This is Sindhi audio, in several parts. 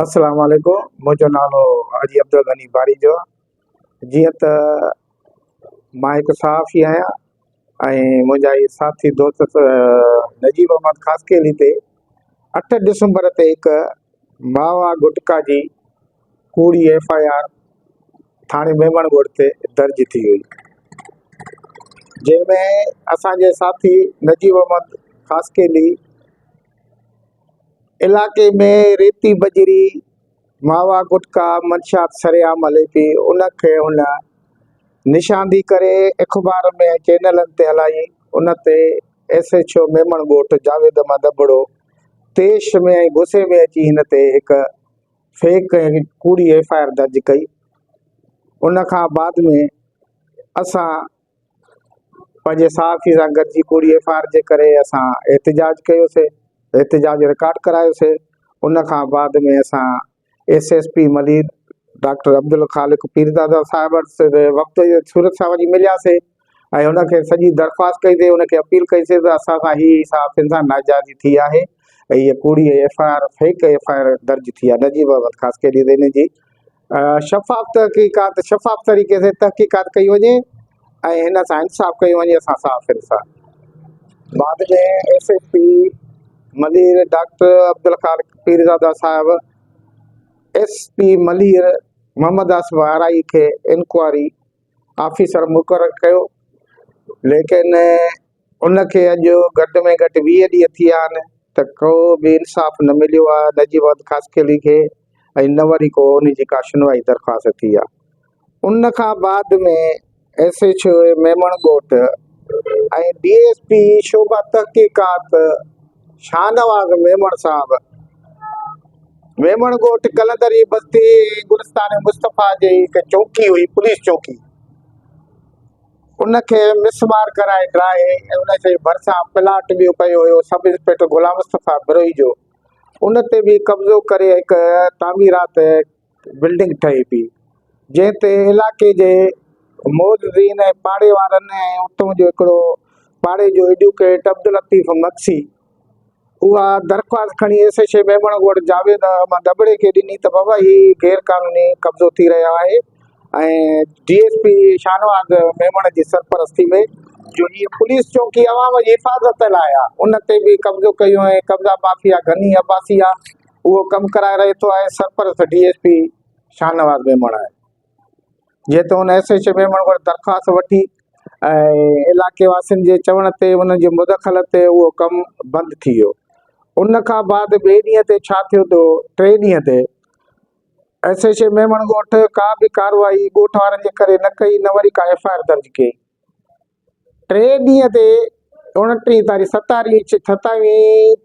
السلام عليڪم منهنجو نالو حاجي عبدالغني باريجو آ جيئن ته مان هڪ صحافي آهيان ۽ منهنجا هي ساٿي دوست نجيب احمد خاصخيلي تي اٺ ڊسمبر تي هڪ ماوا گٽڪا جي ڪوڙي ايف آء آر ٿاڻي ميمڻ ڳوٺ تي درج ٿي هئي جنهن ۾ اسان جي ساٿي نجيب احمد خاصخيلي علائقي ۾ ريتي بجري، ماوا گٽڪا منشيات سرعام هلي پئي، ان کي هن نشاندهي ڪري اخبار ۾ ۽ چينلن تي هلائي، ان تي S H O Memon Goth Javed Ahmed Abro طيش ۾ ۽ غصي ۾ اچي هن تي هڪ فيڪ ۽ ڪوڙي ايف آء آر درج ڪئي، ان کان بعد ۾ اسان پنهنجي صحافي سان گڏجي ڪوڙي ايف آء آر جي ڪري اسان احتجاج ڪيوسي احتجاج رڪارڊ ڪرايوسي ان کان بعد ۾ اسان S S P Malir doctor Abdulkhaliq Pirdada صاحب وٽس وقت جي صورت سان وڃي ملياسي ۽ ان کي سڄي درخواست ڪئي سي ان کي اپيل ڪئي سي ته اسان سان هي صحافين سان ناجائزي ٿي آهي ۽ هي ڪوڙي F I R fake F I R درج ٿي آهي نجيب احمد خاص ڪري ان جي شفاف تحقيقات شفاف طريقي سين تحقيقات ڪئي وڃي ۽ هن سان انصاف ڪيو وڃي اسان صاف انصاف بعد ۾ S S P Malir doctor Abdul Khaliq Pirzada صاحب ايس پي ملير محمد آصف آرائي کي انڪوائري آفيسر مقرر ڪيو ليڪن ان کي اڄ گهٽ ۾ گهٽ ويهه ڏينهن ٿي ويا آهن ته ڪو به انصاف نه مليو آهي نجيب احمد خاصخيلي کي ۽ نه وري ڪو ان جي ڪا شنوائي درخواست ٿي آهي. ان کان بعد ۾ S H O Memon Goth ۽ D S P شعبه تحقيقات شاهنواز ميمڻ صاحب ميمڻ ڳوٺ قلندري بستي ۽ گلستان مصطفيٰ جي هڪ چونڪي هئي پوليس چونڪي ان کي مسمار ڪرائي ڊاهي ۽ ان جي ڀرسان پلاٽ به ڪيو ويو سب انسپيڪٽر غلام مصطفيٰ بروهي جو. ان تي به قبضو ڪري هڪ تعميرات بلڊنگ ٺهي پيئي، جنهن تي علائقي جي معززين ۽ پاڙي وارن ۽ اتون جو هڪڙو پاڙي جو ايڊوڪيٽ عبداللطيف مگسي، اها درخواست کڻي S H O Memon Goth Javed Ahmed ابڙي کي ڏني ته بابا هي غير قانوني قبضو ٿي رهيو آهي ۽ D S P Shahnawaz Memon جي سرپرستي ۾ جو هي پوليس چوڪي عوام جي حفاظت لاء آهي ان تي به قبضو ڪيو ۽ قبضا مافيا غني عباسي اهو ڪم ڪرائي رهي ٿو ۽ سرپرست D S P Shahnawaz Memon آهي جنهن تي هن ايس ايڇ ميمڻ وٽ درخواست وٺي ۽ علاقي واسين جي چوڻ تي انهن جي مدخلت تي اهو ڪم بند ٿي ويو. ان کان بعد ٻئي ڏينهن تي ڇا ٿيو ته ٽئين ڏينهن تي ايس ايڇ ميمڻ ڳوٺ ڪا به ڪارروائي ڳوٺ وارن جي ڪري نه ڪئي نه وري ڪا ايف آء آر درج ڪئي. ٽئين ڏينهن تي اوڻٽيهين تاريخ ستاريخ ستاويهين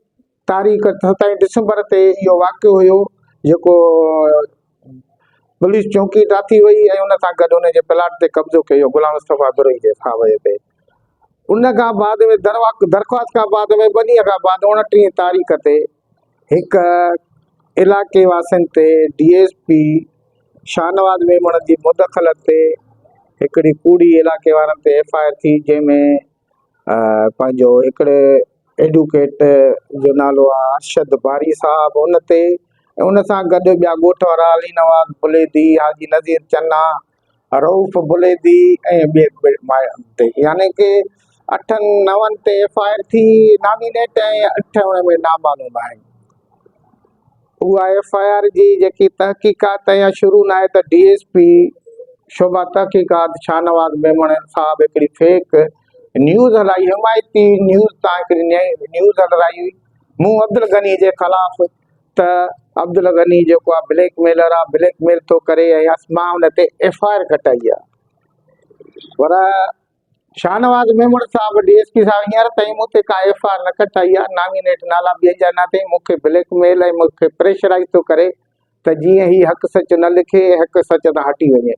تاريخ ستاويهين ڊسمبر تي اهو واقعو هيو جيڪو پوليس چونڪي ٽاٿي وئي ۽ ان سان گڏ ان جي پلاٽ تي قبضو ڪيو غلام مصطفيٰ دري جي ساويء تي ان کان بعد ۾ درخواست کان بعد ۾ ٻه ڏينهن کان بعد اوڻٽيهين تاريخ تي هڪ علائقي واسين تي D S P Shahnawaz Memon جي مداخلت تي هڪڙي ڪوڙي علائقي وارن تي ايف آء آر ٿي جنهن ۾ پنهنجو هڪڙي ايڊوڪيٽ جو نالو آهي ارشد باري صاحب ان تي ان سان گڏ ٻيا ڳوٺ وارا علي نواز بليدي حاجي نذير چنا رئوف بليدي ۽ ٻين ماڻهن تي يعني ڪي اٺن نون تي ايف آء آر ٿي نامينيٽ ۽ اٺ ان ۾ نامعلوم آهن اها ايف آء آر جي جيڪي تحقيقات اڃا شروع نه آهي ته ڊي ايس پي شعبه تحقيقات شاهنواز ميمڻ صاحب هڪڙي فيڪ نيوز هلائي حمايتي نيوز تان هڪڙي نيوز هلرائي هئي مون عبدالغني جي خلاف ته عبدالغني جيڪو آ بليڪ ميلر آ بليڪ ميل ٿو ڪري ۽ مان ان تي ايف آء آر ڪٽائي آ پر شاهنواز ميمڻ صاحب ڊي ايس پي صاحب هينئر تائين مون تي ڪا ايف آر نه ڪٽائي آ نامينيٽ نالا ٻين جا نه اٿئي مون کي بليڪ ميل ۽ مون کي پريشرائز ٿو ڪري ته جيئن هي حق سچ نه لکي حق سچ تان هٽي وڃي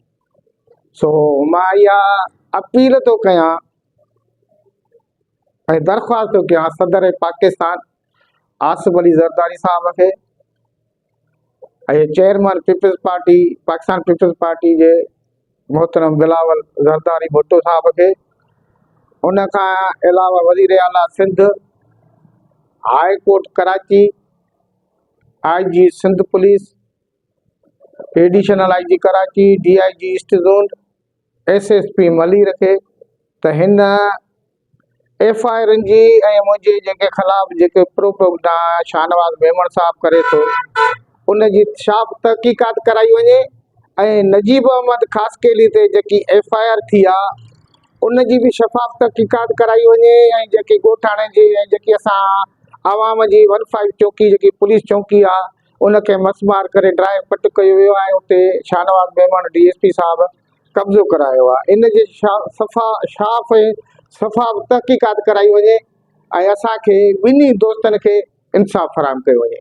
سو مان اها اپيل ٿو ڪيان ۽ درخواست ٿو ڪيان صدر پاڪستان آصف علي زرداري صاحب کي ۽ chairman peoples party Pakistan peoples party جي محترم بلاول زرداري ڀٽو صاحب کي ان کان علاوه وزير اعليٰ Sindh high court Karachi I G Sindh police additional I G Karachi D I G east zone S S P ملي رکي ته هن ايف آء آرن جي ۽ منهنجي جيڪي خلاف جيڪي پروپيگنڊا شاهنواز ميمڻ صاحب ڪري ٿو ان جي شا تحقيقات ڪرائي وڃي ۽ نجيب احمد خاصخيلي تي جيڪي ايف آء آر ٿي آ ان جي به شفاف تحقيقات ڪرائي وڃي ۽ جيڪي ڳوٺاڻي جي ۽ جيڪي اسان عوام جي ون فائيو چوڪي جيڪي پوليس چوڪي آ ان کي مس مار ڪري ڊرائي پٽ ڪيو ويو آهي اتي Shahnawaz Memon D S P صاحب قبضو ڪرايو آهي ان جي صفا شاف ۽ صفا تحقيقات ڪرائي وڃي ۽ اسان کي ٻنهي دوستن کي انصاف فراهم ڪيو وڃي